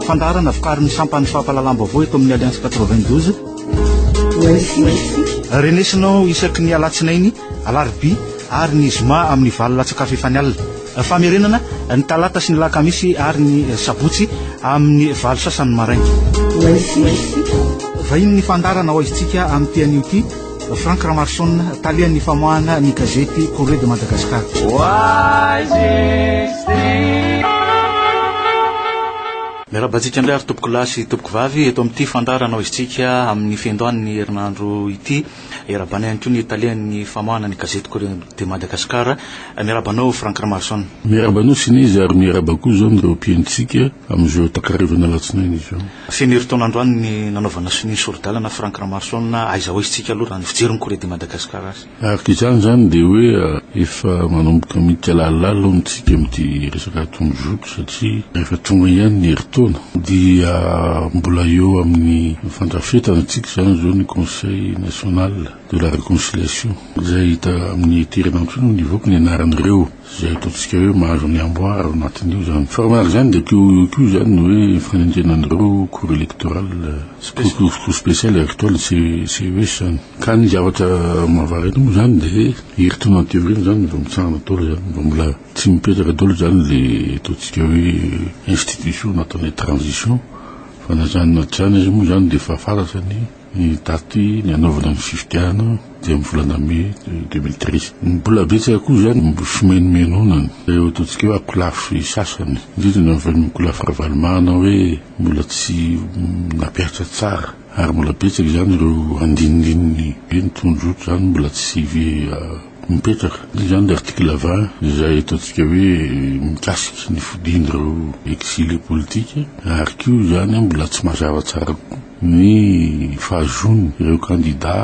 Fandaharana vokarin'ny sampan'ny fampahalalam-baovao eto amin'ny Alliance 92. Renesinao isaky ny alatsinainy, alarobia ary ny zoma amin'ny valo latsakafo efa ny alina. Famerenana ny talata sy ny lakamisy ary ny sabotsy amin'ny valo sasany maraina. Vahiny ny fandaharana ao Aizintsika amin'ny ity anio ity. Franck Ramarson, talehan'ny famoahana ny gazety Courrier de Madagascar. Miarahaba antsika indray ary tompoko lahy sy tompoko vavy eto amin'ity fandarana ao isika amin'ny fiandohan'ny herinandro ity. Erabana ihany koa ny talehan'ny famoahana ny gazety Courrier de Madagascar. Miarahaba anao Franck Ramarson. Miarahaba anao Sinez ary miarahaba koa izao ireo mpihainotsika amin'izao takarivana alatsinainy izao. Feno herintaona androany ny nanaovana sonia ny sori-dalana Franck Ramarson, aiza ho aiza tsika aloha raha ny fijery ny Corée de Madagascar azy. Araka izany izany dia hoe efa manomboka miditra lalilally hono tsika amin'ity resaka atony jour ity satria rehefa tonga ihany ny herintaona dia mbola eo amin'ny fandrafetana tsika izany izao ny conseil national de la reconciliation izay hita amin'ity herinandro ity no nivoaka ny anaran'ireo Izay ataontsika hoe mahazo ny amboara ao anatin'io izany. Fa raha manaraka izany dia koa io koa izany ny hoe fanenjehinaan'ireo cour électorale cour spéciale agricole sy CES izany. Ka ny zavatra mahavara eto moa izany dia herintaona aty aoriana izany vao mitsangana daholo izany, vao mbola tsy mipetraka daholo izany ilay ataontsika hoe institution nataon'ilay transition fa na izany na tsy izany aza moa izany dia efa fantatra ny Ny daty nanaovana ny fifidianana dia amin'ny volana mey deux mille treize. Ny mbola betsaka koa izany no fimenomenonana ireo ataontsika hoe akolafy sasany, indrindra ny avy amin'ny akolafy Ravalomanana hoe mbola tsy nampihatra tsara ary mbola betsaka izany ireo andinindininy hoe ny tondrozotra izany mbola tsy mipetraka. Dia izany ilay article vingt izay ataontsika hoe mikasika ny fodian'ireo exilés politiques ary koa izany mbola tsy mazava tsara kokoa. ny fahazoan' ireo kandidà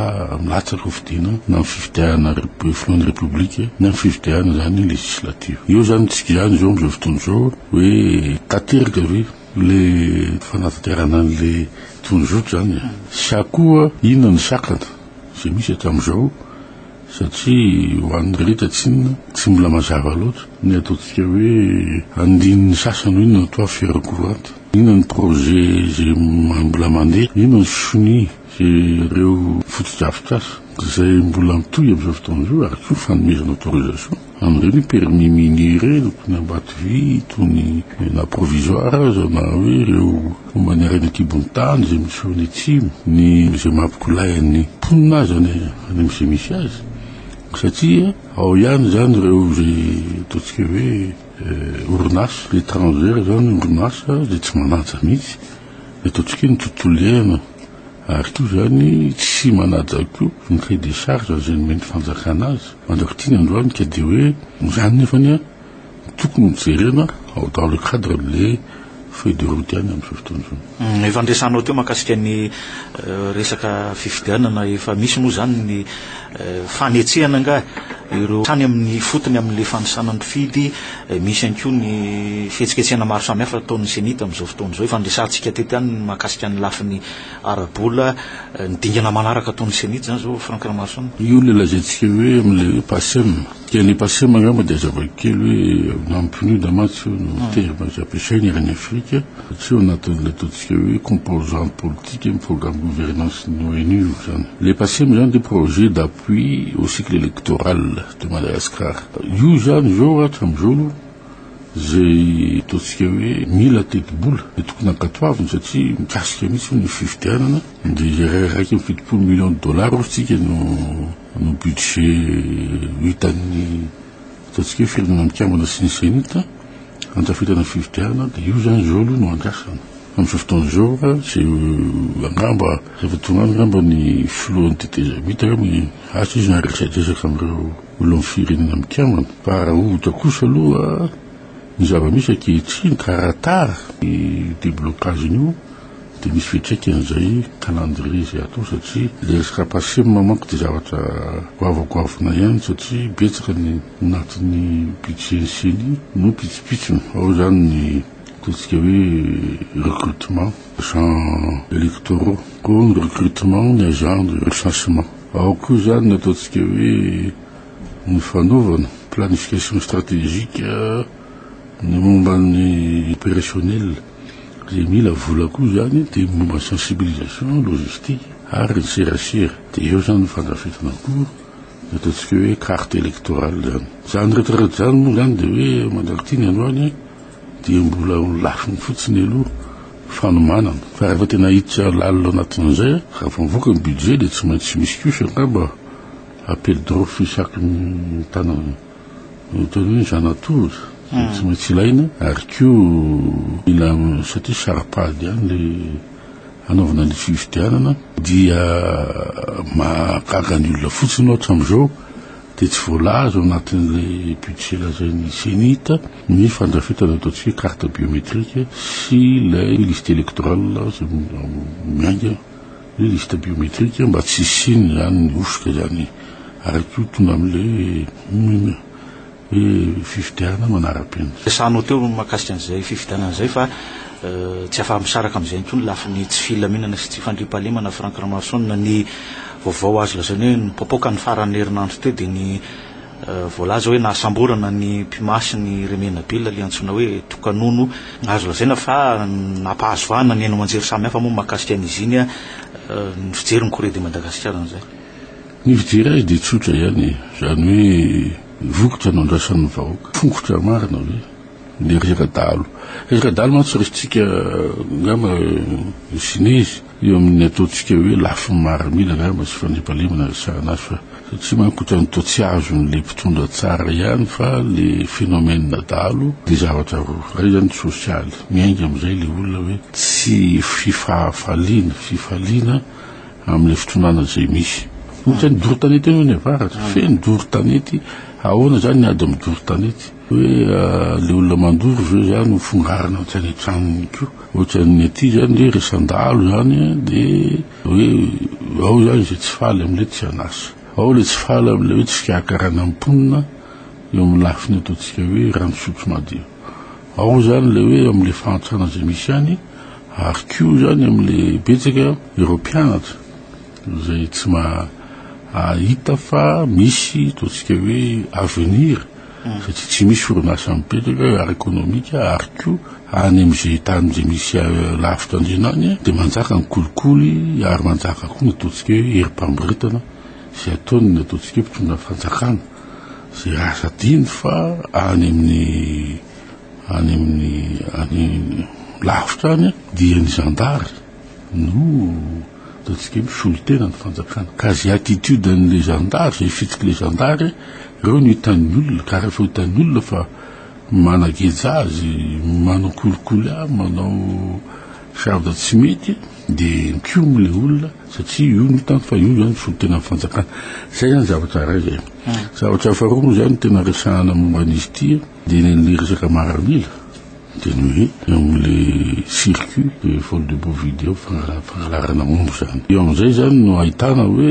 milatsaka ho fidiana na amin'ny fifidianana filohan'ny Repoblika na amin'ny fifidianana izany legislative. Eo izany ny tsikiany izao amin'izao fotoana izao hoe tanteraka ve ilay fanatanterahana an'ilay tondrozotra izany sa koa inona ny sakana izay misy hatramin'izao satria ho an'ny rehetra tsinona tsy mbola mazava loatra ny ataontsika hoe andininy sasany hoe inona no atao fiarokoranty. Inona ny projet izay mbola mandeha? Inona ny sonia sy ireo fotodrafitrasa izay mbola mitohy amin'izao fotoana izao ary koa fanomezana autorisation an'ireny permis minier ireny tony Ambatovy, tony na provisoire aza na hoe ireo momba ny harena an-kibon'ny tany izay misy eo any atsimo, ny izay maha mpikolahy an'ny mponina azy any amin'izay misy azy satria ao ihany izany ireo izay ataontsika hoe. Orinasa etrangera izany, orinasa izay tsy manaja mihitsy ny ataontsika hoe ny tontolo iainana, ary koa izany tsy manaja koa ny cahier des charges izay nomen'ny fanjakana azy. Mandrak'ity ny androany ka dia hoe izany nefany tokony hojerena dans le cadre an'ilay. Feuille de route ihany amin'izao fotoana izao. Efa niresahanao teo mahakasika ny resaka fifidianana efa misy moa izany ny fanetsehana angaha ireo hatrany amin'ny ifotony amin'ilay fanisana mpifidy, misy ihany koa ny fihetsiketsehana maro samihafa ataon'ny Ceni tamin'izao fotoana izao. Efa niresahantsika teto ihany ny mahakasika ny lafiny ara-bola, ny dingana manaraka ataon'ny Ceni izany izao Franck Ramaroson. Io ilay lazaintsika hoe amin'ilay hoe PACEM. Dia ny pasema angamba dia zava-kely hoe na pneu da mantsy io no hmm. terme izay ampiasaina eran'ny Afrika tsy eo anatin'ilay ataontsika hoe composante politique amin'ny programme gouvernance ny ONU izany. Le pasema izany dia projet d'appui au cycle électoral de Madagascar. Io izany izao hatramin'izao aloha izay ataontsika hoe mila tetibola dia tokony ankatoaviny satria mikasika mihitsy ny fifidianana dia iray raiky amin'ny fitopolo million de dollars ozy tsika no Ny budget vitan'ny ataontsika hoe Firenena Mikambana sy ny Zenit handrafetana ny fifidianana dia io izany izao aloha no andrasana. Amin'izao fotoana izao tsy angamba rehefa tonga any angamba ny filohan'ny tetezamita angamba ny asa izy no handresadresaka amin'ireo olon'ny Firenena Mikambana fa raha ohatra kosa aloha ny zava-misy ankehitriny ka raha tara ny deblocage-ny io Dia misy fiantraikany izay calendrier izay atao satria ilay resaka Pasim manko dia zavatra goavagoavina ihany satria betsaka ny anatin'ny budget ny ceni no pitsopitsony. Ao izany ny ataontsika hoe recrutement, agents électoraux, koa ny recrutement, ny agents de recensement. Ao koa izany ny ataontsika hoe ny fanaovana planification stratégique ny momba ny opérationnel. Izay mila vola koa izany dia ny momba ny sensibilisation, logistique ary ny serasera. Dia eo izany ny fandrafetana akoho, ny ataontsika hoe carte électorale izany. Izany rehetra rehetra izany moa izany dia hoe mandraky ity ny andro any dia mbola ho lafiny fotsiny aloha fanomanana. Fa rehefa tena hiditra lalina ao anatin'izay, raha vao mivoaka ny budget dia tsy maintsy misy kosa angamba appel d'offre isaky ny tanana. Ny tena hoe zanatolona dia tsy maintsy ilaina ary koa mila satria sara-pady ihany ilay hanaovana ny fifidianana dia mahagaga ny olona fotsiny ohatra amin'izao dia tsy voalaza ao anatin'ilay budget lazain'ny CENIT ny fandrafetana ataontsika hoe carte biométrique sy ilay liste électorale izay miainga Ny liste biométrique mba tsy hisiany izany ny hosoka izany ary koa tonga amin'ilay hoe fifidianana manara-penitra. Resahano teo ny mahakasika an'izay fifidianana izay fa tsy afa-misaraka amin'izay intsony lafiny tsy filaminana sy tsy fandriampahalemana Franck Ramaroson ny vaovao azo lazaina hoe nipoapoaka ny faran'ny herinandro teo dia ny Voalaza hoe nahasamborana ny mpimasy ny Remena Bill ilay antsoina hoe Tokanono. Azo lazaina fa nampahazo vahana ny haino aman-jery samihafa moa mahakasika an'izy iny ny fijery ny Corée de Madagascar an'izay. Ny fijery azy dia tsotra ihany e! Izany hoe vokatra nandrasan'ny vahoaka. Fongotra marina ve ilay ry Radalo? Ry Radalo mantsy raisitsika angamba Sinezy. Eo amin'ny ataontsika hoe lafiny marimila angamba sy fandriampahalemana resahana azy fa satria manko ohatran'ny toa tsy azon'ilay mpitondra tsara ihany fa le phénomène dahalo dia zavatra roa. Iray izany ny sosialy, miainga amin'izay ilay olona hoe tsy fifahafaliana, fifaliana amin'ilay fitondrana izay misy. Ohatran'ny doro tanety eo ny avaratra, feno doro tanety, ahoana izany ny ady amin'ny doro tanety? Hoe le olona mandoro ve zany ho fongarina atsy any an-tranony ko? Ohatran'ny aty zany le re sandalo zany de hoe ao zany ze tsy faly amle tsy an'asa, ao le tsy faly amle hoe tsy fikarakarana ny mponina eo amin'ny lafiny ataontsika hoe rano fisotro madio, ao zany le hoe amle fahantrana ze misy any ary ko zany amle betsaka ireo mpianatra. Izay tsy mahahita fa misy ataontsika hoe avenir satria tsy misy orinasa mipetraka ara-ekonomika ary koa any amin'izay tany izay misy lavitra andriana any dia manjaka ny kolikoly ary manjaka koa ny ataontsika hoe herim-pamboretana izay ataon'ny ataontsika hoe mpitondra fanjakana izay azo adino fa any amin'ny any amin'ny any lavitra any dia ny zandary. No ataontsika hoe misolo tena ny fanjakana. Ka izay attitude an'ilay zandary, izay fitsik'ilay zandary, ireo no hitan'ny olona. Ka rehefa hitan'ny olona fa manageja azy, manao kolikoly ahy, manao zavatra tsy mety, dia mikomy ilay olona satria io no hitany fa io izany misolo tena ny fanjakana. Izay izany zavatra iray izay. Zavatra faharoa moa izany no tena resahana momba an'izy ity, Dia ny an'ilay resaka maramila dia ny hoe eo amin'ilay circuit de vol de bovide eo, fangalarana omby izany. Eo amin'izay izany no ahitana hoe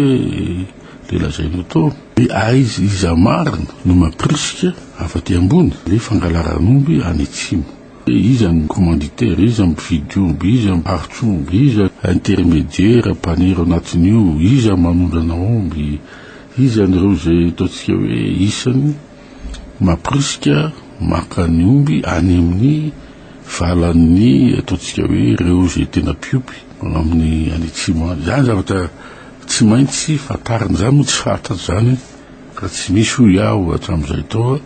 ilay lazainao tao hoe aiza, iza marina no mampirisika avy aty ambony ilay fangalaran'omby any atsimo. Hoe iza no commanditaire, iza no mpividy omby, iza no mpivarotra omby, iza no intermédiaire, mpanera ao anatin'io, iza no manondrana omby, iza amin'ireo izay ataontsika hoe isany. mampirisika maka ny omby any amin'ny valan'ny ataontsika hoe ireo izay tena mpiompy amin'ny any atsimo any. Izany zavatra tsy maintsy fantarina, izany moa tsy fantatra izany ka tsy misy hoy aho hatramin'izay tao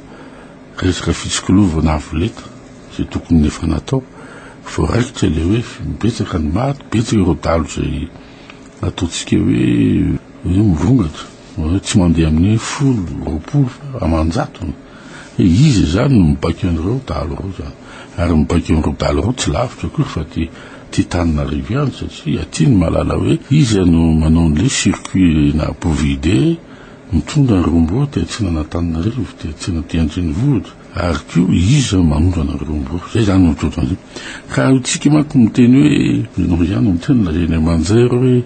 resaka fitsikolovana avo lenta izay tokony efa natao vao raikitra ilay hoe betsaka ny maty, betsaka ireo dalo izay ataontsika hoe hoe mirongatra. Hoe tsy mandeha amin'ny folo, roapolo fa aman-jatony. Hoe iza izany no mibaiko an'ireo dahalo ireo izany? Ary mibaiko an'ireo dahalo ireo tsy lavitra akory fa aty aty Tananarivo ihany satria aty ny mahalala hoe iza no manao an'ilay circuit-na Bovide mitondra ny rombo aty atsinan'Antananarivo, aty atsinaty aty an-drenivohitra ary koa iza manondrana ny rombo. Izay izany no toetran'izay. Ka isika manko miteny hoe ianao ihany no miteny na eny Manjary hoe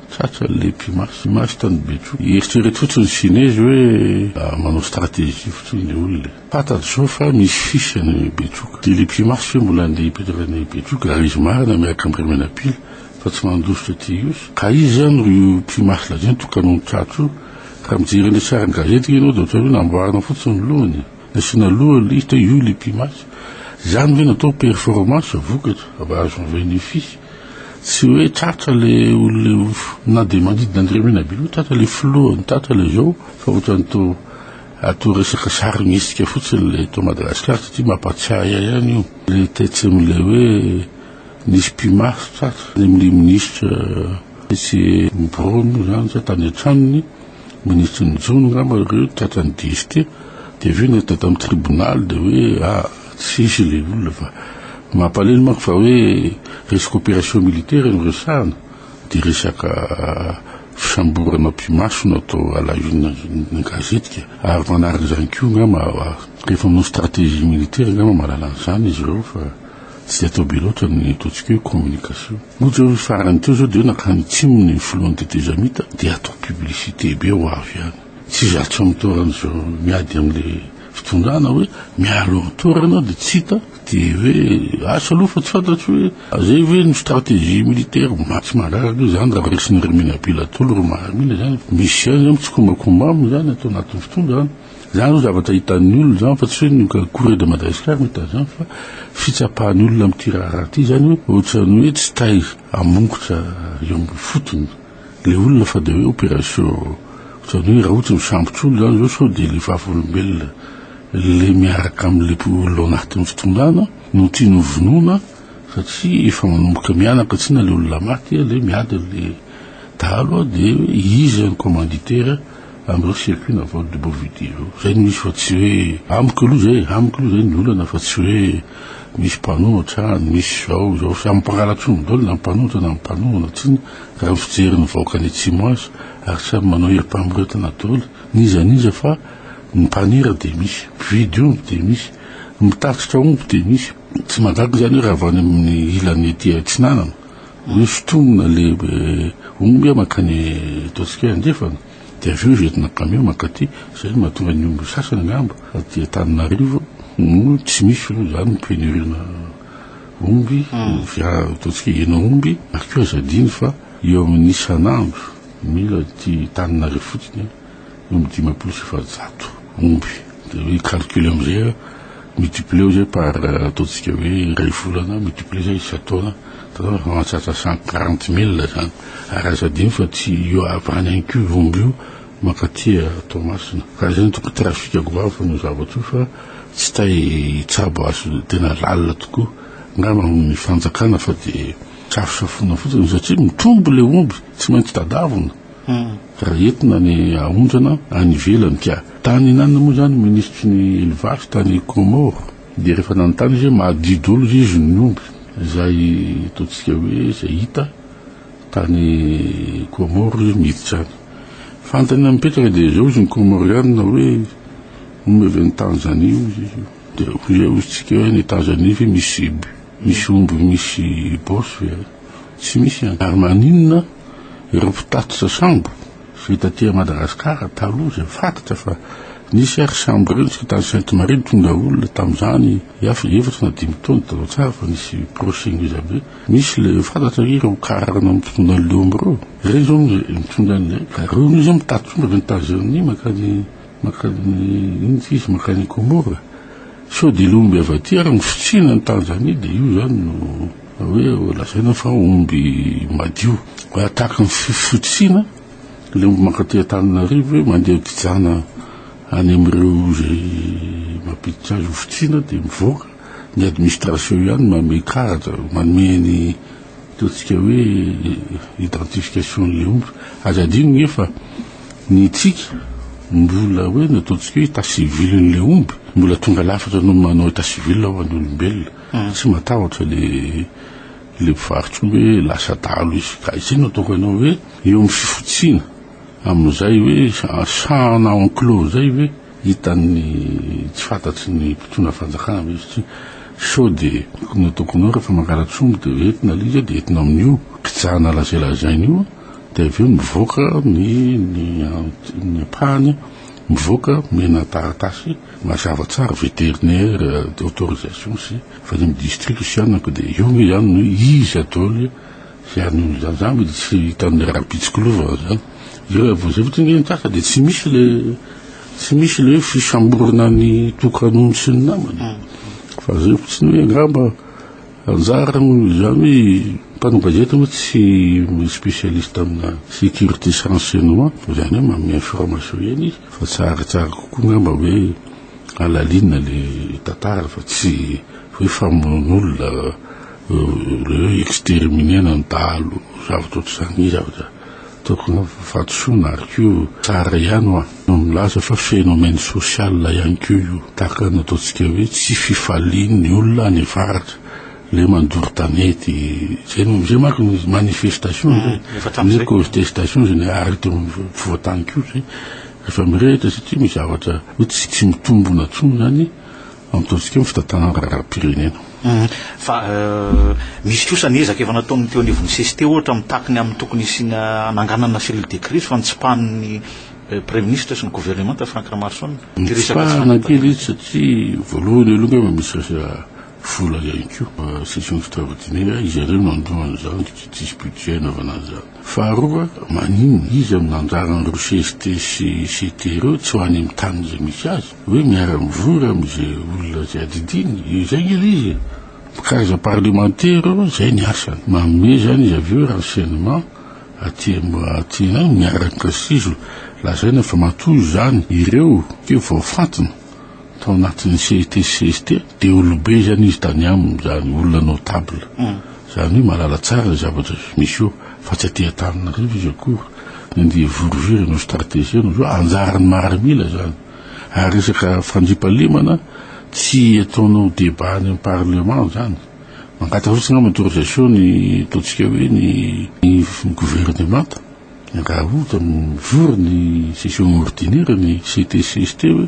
Tratra ny lehibe maso i maso tany Betro. Eritrereto fotsiny ny Chinezy hoe manao stratégie fotsiny le olona e. Fantatro zao fa misy fils any Betroka. De lehibe maso ve mbola andeha hipetraka any Betroka ary izy marina miaraka am Ramenapila fa tsy mandositra aty Ihosy. Ka iza izany ro io pimasy lazainy tokanon'ny tratro io? Raha mijery an'le sarin-gazety ve ianao de ohatran'ny hoe namboarina fotsiny ny lohany e. Nasiana loha lisitra io ilay pimasy. Izany ve no atao performance, vokatra, avy azo en venefice? Tsy hoe tratra le olona na dia mandidy na dia mena be loha tratra le filoha no tratra le zao fa otrany toa atao resaka sarimihetsika fotsiny le eto Madagascar satria mampatsiahy ahy ihany io le tetsem le hoe nisy pimasy tratra le mle minisitra tetsy Brony zany sa tany an-tranony Minisitry ny jono angamba ireo tratran'ny DST dia avy eo nentiny tao amin'ny tribonaly dia hoe a ah, tsy hisy ilay olona fa mampalelo manko fa hoe resaka opération militaire no resahana dia resaka fisamborana mpimaso no atao alahina ny gazetika ary manaraka izany koa angamba rehefa manao stratégie militaire angamba mahalala an'izany izy ireo fa tsy dia atao be loatra ny ataontsika hoe communication Ohatra hoe farany teo zao de hoe nakany tsimony ny filohan'ny tetezamita de atao publicité be ho avy any. Tsy zato samy toerana zao miady amle fitondrana hoe mialoro toerana de tsy hita de hoe asa aloha fa tsy fantatro hoe zay ve no stratégie militaire ma tsy mandraraka io zany raha resin'i Rimiana Bilatolo ry Mahamina zany misy ihany zany mitsikombakomba aminy zany ato anatin'ny fitondrana. Izany no zavatra hitan'ny olona izany fa tsy hoe ny Courrier de Madagascar no hita an'izany fa fitsapan'ny olona amin'ity raharaha ity izany hoe ohatran'ny hoe tsy tay hamongotra eo amin'ny fotony ilay olona fa dia hoe opération ohatran'ny hoe raha ohatra ny sambotr'olona izany izao sao dia ilay vavolombelona ilay miaraka amin'ilay olona ao anatin'ny fitondrana no tiany hovonoina satria efa manomboka mianaka tsy na ilay olona maty ilay miady ilay dahalo dia izy ny commanditaire Androy sy Aky navaly de beau vidéo. Zay no izy fa tsy hoe amiko aloha zay e, amiko aloha zay ny olana fa tsy hoe misy mpanohana hatrany, misy zao izao, samy mpangalatroniny daholo na ny mpanohatra na ny mpanohana tsin raha ny fijery ny vahoaka any atsimo azy ary samy manao herim-pamoretana daholo n'iza n'iza fa ny mpanera de misy, mpividy omby de misy, ny mpitatitra omby de misy, tsy mahagaga izany hoe raha avy any amin'ny ilany ety atsinanana. Misy tongona lehibe omby a mankany ataontsika hoe andrefana dia avy eo izy entina kamiao mankaty, izay no mahatonga ny omby sasany angamba aty Antananarivo no tsy misy aloha izany ny pénurie-na omby, ataontsika hoe hen'aomby, ary koa aza adino fa eo amin'ny isan'andro mila aty Antananarivo fotsiny a. Omby dimampolo sy efajato omby dia hoe calcul amizay a multiplieo zay par ataontsika hoe iray volana multiplier zay isan-taona dia mahatratra cent quarante mille zany ary aza adino fa tsy io avy any ihany koa io omby io mankaty Toamasina ka izay no tokony trafic goavana io zavatra io fa tsy tay hitsabo azy io tena lalina tokoa angamba amin'ny fanjakana fa dia safosafoina fotsiny satria mitrombo ilay omby tsy maintsy tadavina raha entina ny haondrana any ivelany ka. Tany nanona moa izany minisitry ny elevasy tany Comores dia rehefa nanontany izy hoe mahadio daholo ve izy ny omby izay ataontsika hoe izay hita tany Comores izy miditra any fantany mipetraka dia izao izy ny Comoriana hoe omby avy any Tanzanie hoy izy dia hoy izay hoy isika hoe any Tanzanie ve misy misy omby misy bos ve any tsy misy any ary maninona Ireo mpitatitra sambo izay taty à Madagascar taloha izay fantatra fa nisy ary sambo ireo nitsika tany Sainte Marie nitondra olona tamin'izany iafi efatra na dimy taona taloha tsara fa nisy procès ngeza be misy le fantatra hoe ireo car na mitondra an'le omby ireo ireny zao mitondra an'le ka ireo mi zao mitatitra omby avy any Tanzanie makany makany inona ty izy makany Comores sao dia le omby avy aty ary ny fitsina any Tanzanie dia io zany no Hoe lazaina fa omby madio. Raha tahaka ny fitsiana, ilay omby mankaty Antananarivo hoe mandeha gijana any amin'ireo izay mampiditra azy ho fitsiana dia mivoaka. Ny administration ihany no manome karatra, manome ny ataontsika hoe identification-n'ilay omby. Aza adino nge fa ny antsika mbola hoe ny ataontsika hoe état civil-n'ilay omby mbola tonga lafatra noho ny manao état civil ho an'ny olombelona. Tsy matahotra le le mpivarotra io hoe lasa adalo izy ka izay no ataoko anao hoe eo amin'ny fifotsiana amin'izay hoe sahana enclos izay hoe hitan'ny tsy fantatry ny mpitondra fanjakana ve izy ity sao dia ny ataoko anao rehefa mangala-tsoa moa dia hoe entina alika dia entina amin'io kijana lazay lazainy io dia avy eo mivoaka ny ny ny ampahany mivoaka mena taratasy Mazava tsara vétérinaire autorisation sy fa ny district sy anako dia eo nge ihany no iza daholo hianona izany za mody tsy hitan'ny rahampitsiko lova zany eo avy zay fotsiny nge ny tasa dia tsy misy le tsy misy le hoe fisamborana ny tokan'ondry sy ny namany fa zay fotsiny hoe angamba Anjara moa izany, mpanao gazety moa tsy spécialiste amina sécurité sy renseignement, izany hoe manome information ihany izy, fa tsaratsara kokoa angamba hoe à la ligne le tantara fa tsy hoe famonoan'olona, le hoe exterminer-na ny dahalo zavatra ohatr'izany, zavatra. Tokony ho fahadisoana ary koa tsara ihany hoa no milaza fa phénomène social ihany koa io tahaka ny ataontsika hoe tsy fifalian'ny olona any avaratra le mandoro tanety zay no zay manko ny manifestation zay ah, ny contestation zay ny ary teo ampovoantany koa zay rehefa mirehitra satria misy zavatra hoe tsy tsy mitombona tsony zany Ataontsika ny fitantanana raharaham-pirenena. Fa misy kosa ny ezaka efa nataon'ny teo anivon'ny CCT ohatra mitaky ny amin'ny tokony hisiana hananganana cellule de crise fa notsipahin'ny Praiminisitra sy ny Governemanta Franck Ramarison ity resaka tsy Notsipahana kely izy satria voalohany aloha angamba misy resaka vola ihany koa. Session extraordinaire izy ireo no handoa an'izany satria tsisy budget hanaovana an'izany. Faharoa maninona izy amin'ny anjaran'ireo CCT sy CT ireo tsy ho any amin'ny taniny izay misy azy. Hoe miara-mivory amin'izay olona izay adidiny, izay nge ilay izy e! Mpikaraza parlemantera aloha izay ny asany. Manome izany izy avy eo renseignement aty aty an miaraka sizo lazaina fa matoa izany ireo keo voafantina tao anatin'ny CET sy CST dia olobe izany izy tany aminy izany, olona notable. Izany hoe mahalala tsara ny zavatra misy eo fa tsy aty Antananarivo izy akory. Ny andeha hivoriviry hanao strategie anao izao anjaran'ny maharamila izany. Ary resaka fandriampahalemana tsy ataonao débat any amin'ny parlement zany. Mangataha fotsiny angamba autorisation ny ataontsika hoe ny ny gouvernemanta raha ohatra mivory ny session ordinaire ny CTCST hoe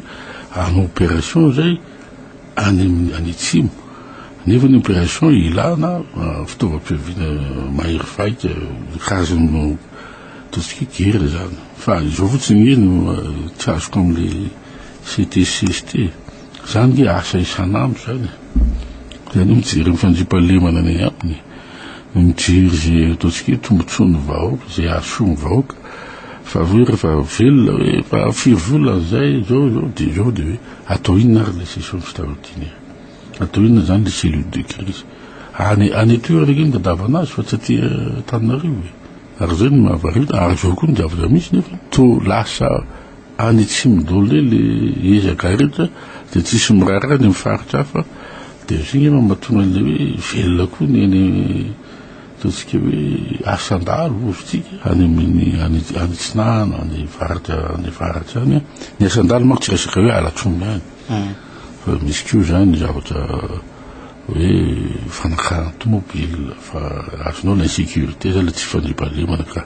hanao opération zay any amin'ny any atsimo. Nefa ny opération ilana fitaovam-piaviana mahery vaika karazan'ny. Ataontsika guerre izany fa izao fotsiny nge no tsy azoko amin'ilay CTCST. Izany nge asa isan'andro izany e. Izany hoe mijery ny fandriampahalemana any agnatiny e. Mijery izay ataontsika hoe tombotsoan'ny vahoaka, izay hahasoa ny vahoaka. Fa hoe rehefa velona hoe efa firy volana izay, izao, izao dia izao dia hoe atao inona ary ilay session extraordinaire? Atao inona izany ilay cellule de crise? Any, any an-toerana nge no tadiavana azy fa tsy aty Antananarivo e. Ary izay no mahavariana, ary izao koa ny zavatra misy nefa toa lasa any atsimo daholo eo le ezaka rehetra dia tsisy miraharaha any amin'ny faritra hafa dia izay angamba mahatonga an'ilay hoe velona koa ny any ataontsika hoe asan-dahalo vozontsika any amin'ny any atsinanana any faritra any faritra any ny asan-dahalo manko tsy resaka hoe halatr'omby any hmm. fa misy koa izany zavatra hoe fanakaran'ny tomobil fa azonao ny insecurite zay le tsy fandriampahalemana ka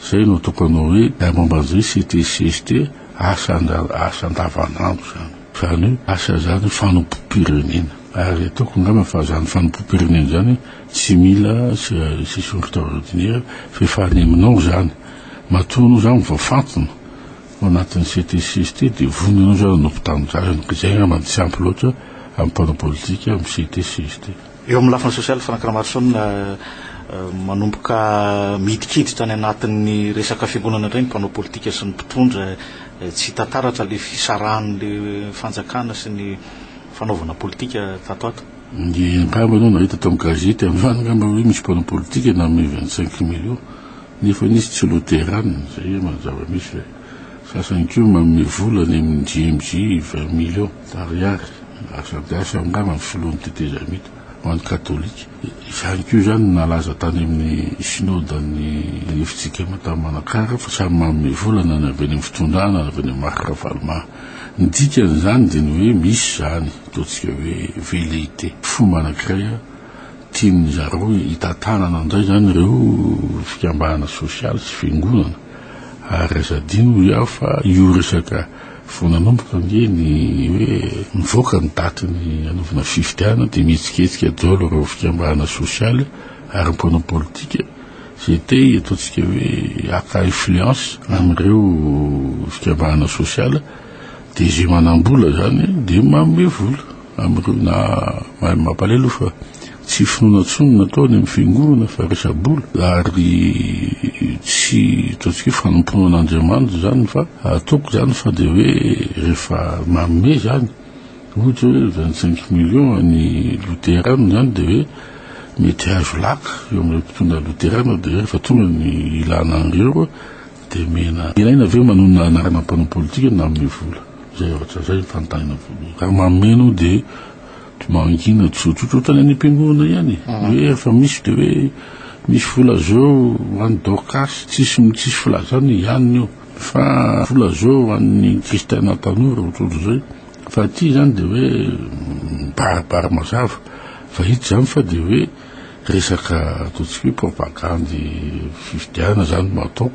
zay no ataoko anao hoe raha momba an'izay CTCST asa asa andavanandro zany zany hoe asa zany fanompoam-pirenena ary ataoko angamba fa zany fanompoam-pirenena zany tsy mila session extraordinaire fa efa any aminao zany matoa aloha zany vao fantina Ao anatin'ny CTC ity dia vonona ianao izay hanompo tanindrazana ka izay angamba no tsy ampy loatra amin'ny mpanao politika amin'ny CTC ity. Eo amin'ny lafiny sosialy, Franck Ramaroson, manomboka midikiditra any anatin'ny resaka fiangonana indray ny mpanao politika sy ny mpitondra. Tsy hita taratra ilay fisarahan'ny fanjakana sy ny fanaovana politika tato ato. Ny angamba ianao nahita tao amin'ny gazety androany angamba hoe misy mpanao politika nanome vingt cinq millions. Nefa nisy tsy loterana, izay ema ny zava-misy le. Sasany koa manome vola any amin'ny GMJ vingt millions Ariary, asa dia asa angamba ny filohan'ny tetezamita, ho an'ny katolika. Izany koa izany no nalaza tany amin'ny synodan'ny Efitrikema tany Manakara fa samy manome vola na ny avy any amin'ny fitondrana na avy any amin'ny Marc Ravaloma. Ny dikan'izany dia ny hoe misy izany, ataontsika hoe velléité, fomba anankiray, Tian'ny zareo hitantanana indray izany ireo fikambanana sosialy sy fiangonana ary aza adino hoy aho fa io resaka vao nanomboka ange ny hoe mivoaka ny daty ny hanaovana fifidianana dia mihetsiketsika daholo ireo fikambanana sosialy ary mpanao politika izay te ataontsika hoe haka influence amin'ireo fikambanana sosialy dia izay manam-bola izany dia manome vola. Amin'ireo na mahay mampalahelo fa tsy finoana intsony ny nataony amin'ny fiangonana fa resa-bola ary tsy ataontsika hoe fanompoana an'Andriamanitra izany fa ataoko izany fa dia hoe rehefa manome izany ohatra hoe vingt cinq millions ny loterana izany dia hoe mety hahazo laka eo amin'ireo mpitondra loterana dia rehefa tonga ny ilana an'ireo Dia mena ilaina ve manonona anarana mpanao politika na amin'ny vola? Izay ohatra izay no fanontaniana voalohany. Raha mameno dia mangina tsotsotra ohatran'ny any am-piangonana ihany e. Hoe rehefa misy dia hoe misy vola zao ho an'i Dorcas, tsisy tsisy filazana e, ihany io. Fa vola zao ho an'ny kristiana tanora ohatrohatr'izay. Fa aty izany dia hoe mibaribary mazava. Fa hita izany fa dia hoe. Resaka ataontsika hoe propagandy fifidianana izany no atao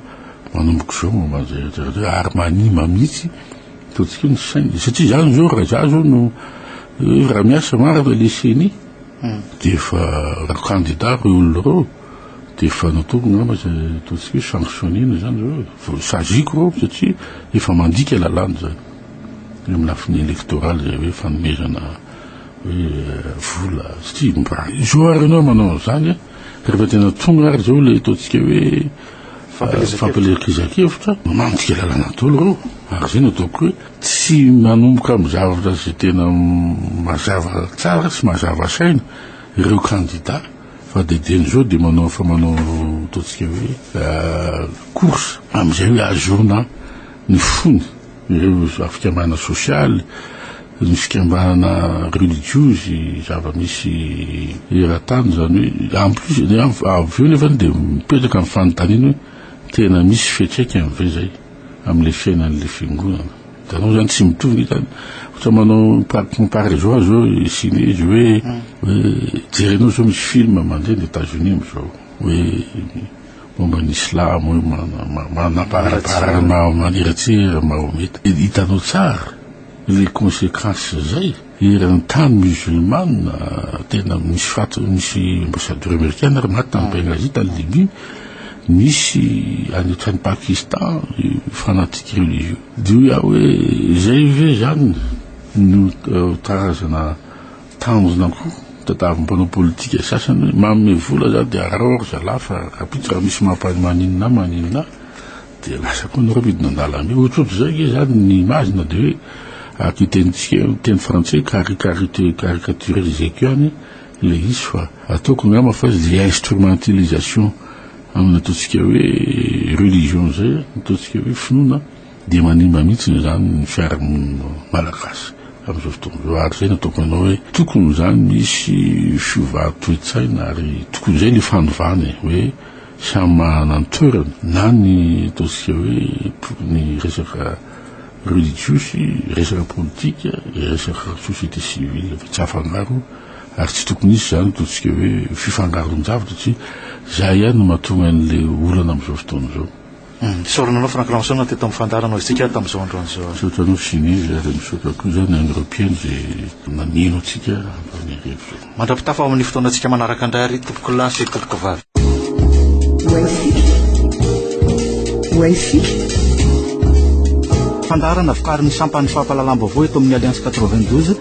manomboka izao mandra-mandra-mandra ary manimba mihitsy ataontsika hoe ny saina. Satria izany izao raha izaho izao no hoe raha miasa marina ilay ceni dia efa raha kandida ireo olona ireo dia efa nataoko angamba izay ataontsika hoe sanctionner-na izany izao e. Vao saziako ireo satria efa mandika lalàna izany eo amin'ny lafiny elektoraly izay hoe fanomezana. hoe vola satria mba izao ary ianao manao an'izany a rehefa tena tonga ary izao ilay ataontsika hoe fampielezan-kevitra mamantika lalana daholo ireo ary izay no ataoko hoe tsy manomboka amin'ny zavatra izay tena mazava tsara sy mazava saina ireo kandida fa dia dian'izao dia manao fa manao ataontsika hoe course amin'izay hoe azona ny fony ireo fikambanana sosialy, ny fikambanana relijiozy, zava-misy eran-tany izany hoe en plus avy eo nefany dia mipetraka ny fanontaniana hoe tena misy fiantraikany ve izay amin'ilay fiainan'ilay fiangonana? Hitanao izany tsy mitovy ny hitany, ohatra manao comparaison azy eo i Siny izy hoe hoe jerenao izao misy film mandeha any Etats-Unis amin'izao hoe Momba ny silamo hoe manabarabarana maniratsy Mahometa. Hitanao tsara le consequence zay eran'ny tany musulmane tena misy faty misy ambassadeur americaine ary maty tany Benghazi tany Libye misy any otrany Pakistan fanatique religieux de hoe aho hoe zay ve zany no tarazana Tanjona koa tadiaviny mpanao politika sasany hoe manome vola za dia arao ary zalahy fa rahampitso raha misy mampany maninona maninona dia lasa koa nareo midina an-dalambe ohatrohatr'izay nge za ny image na dia hoe araka io tenintsika io teny frantsay caricarite caricature izay ko ihany ilay izy fa ataoko angamba fa izy dia instrumentalisation amin'ny ataontsika hoe religion izay ataontsika hoe finoana Dia manimba mihitsy izany ny fiarahamonina malagasy amin'izao fotoana izao. Ary izay no ataoko anao hoe tokony izany misy fiovà toe-tsaina ary tokony izay ny fanovàna e! hoe samy manana ny toerany na ny ataontsika hoe ny resaka relijiozy, resaka politika, resaka société civile fa tsy afangaro ary tsy tokony hisy izany ataontsika hoe fifangaron-javatra satria izay ihany no mahatonga an'ilay olana amin'izao fotoana izao. Misaotra anao Franck Lanson teto amin'ny fandaharanao iztsika tamin'izao androany izao. Misaotra anao Ginevra ary misaotra koa izany an'ireo mpihaino izay mameno antsika amin'izany hariva izany. Mandra-pitafa ho amin'ny fotoanantsika manaraka indray ary tompokolahy sy tompokovavy. Wifi. Fandaharana vokarin'ny sampan'ny fampahalalam-baovao eto amin'ny Alliance 92.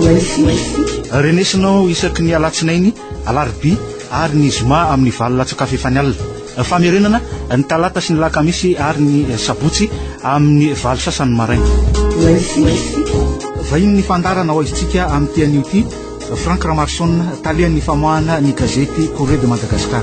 Wifi. Renesinao isaky ny alatsinainy. Alarobia ary ny Zoma amin'ny valo latsak'afo efa ny alina. Famerenana ny Talata sy ny Lakamisy ary ny Sabotsy amin'ny valo sasany maraina. Vahinin'ny fandaharana Hoaizintsika amin'ity anio ity, Franck Ramarson, talehan'ny famoahana ny gazety Courrier de Madagascar.